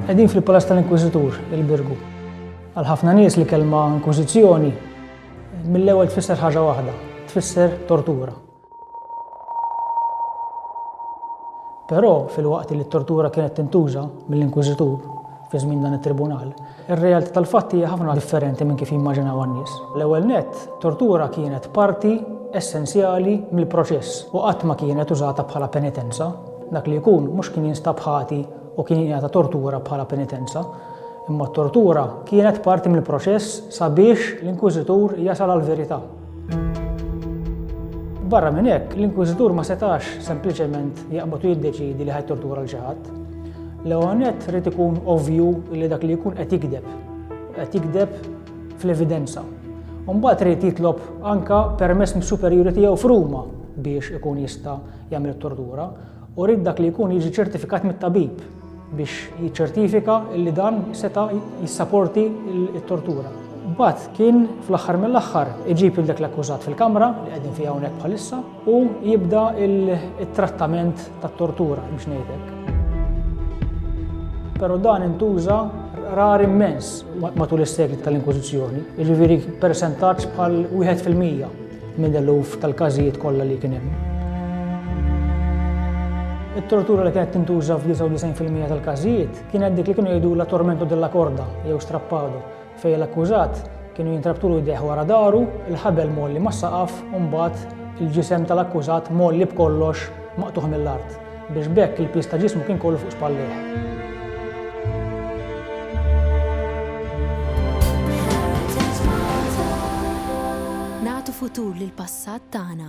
Qegħdin fil-Palas tal-Inkwiżitur, il-Birgu. Għal ħafna nies li kelma inkwiżizzjoni mill-ewwel tfisser ħaġa waħda, tfisser tortura. Però, filwaqt li t-tortura kienet tintuża mill-inkwiżitur fi żmien dan it-tribunal, ir-realtà tal-fatti hija ħafna differenti minn kif jimmaġinawha n-nies. L-ewwel nett, tortura kienet parti essenzjali mill-proċess u qatt ma kienet użata bħala penitenza. Dak li jkun mhux kien jinstab ħati u kien jingħata tortura bħala penitenza, imma t-tortura kienet parti mill-proċess sabiex l-inkwiżitur jasal għall-verità. Barra minn hekk, l-inkwiżitur ma setax sempliċement jaqbad u jiddeċiedi li ħajtortura l xi ħadd. L-ewwel nett rid ikun ovvju li dak li jkun qed jikdeb, qed jikdeb fl-evidenza. Mbagħad rid jitlob anka permess mis-superjuri tiegħu f'Ruma biex ikun jista' jagħmel it-tortura u rid dak li jkun jiġi ċertifikat mit-tabib biex jiċċertifika li dan seta' jissaporti t-tortura. Imbagħad kien fl-aħħar mill-aħħar iġib lil dak l-akkużat fil-kamra li qegħdin fiha hawnhekk bħalissa u jibda t-trattament tat-tortura biex ngħidlek. Però dan intuża rar immens matul is-sekli tal-Inkwiżizzjoni, jiġifieri ppersentaġġ bħal wieħed fil-mija. Minn eluf tal-każijiet kollha li kien hemm. It-tortura li kienet tintuża f'99 fil-mija tal-każijiet kienet dik li kienu jgħidulha tormento della corda jew strappado, fejn l-akkużat kienu jintrabtulu jdejh wara dahru, il-ħabel mgħolli mas-saqaf u mbagħad il-ġisem tal-akkużat mgħolli b'kollox maqtugħ mill-art. Biex b'hekk il-piż ta' ġismu kien kollu fuq spallejh. futur lill-passat tagħna.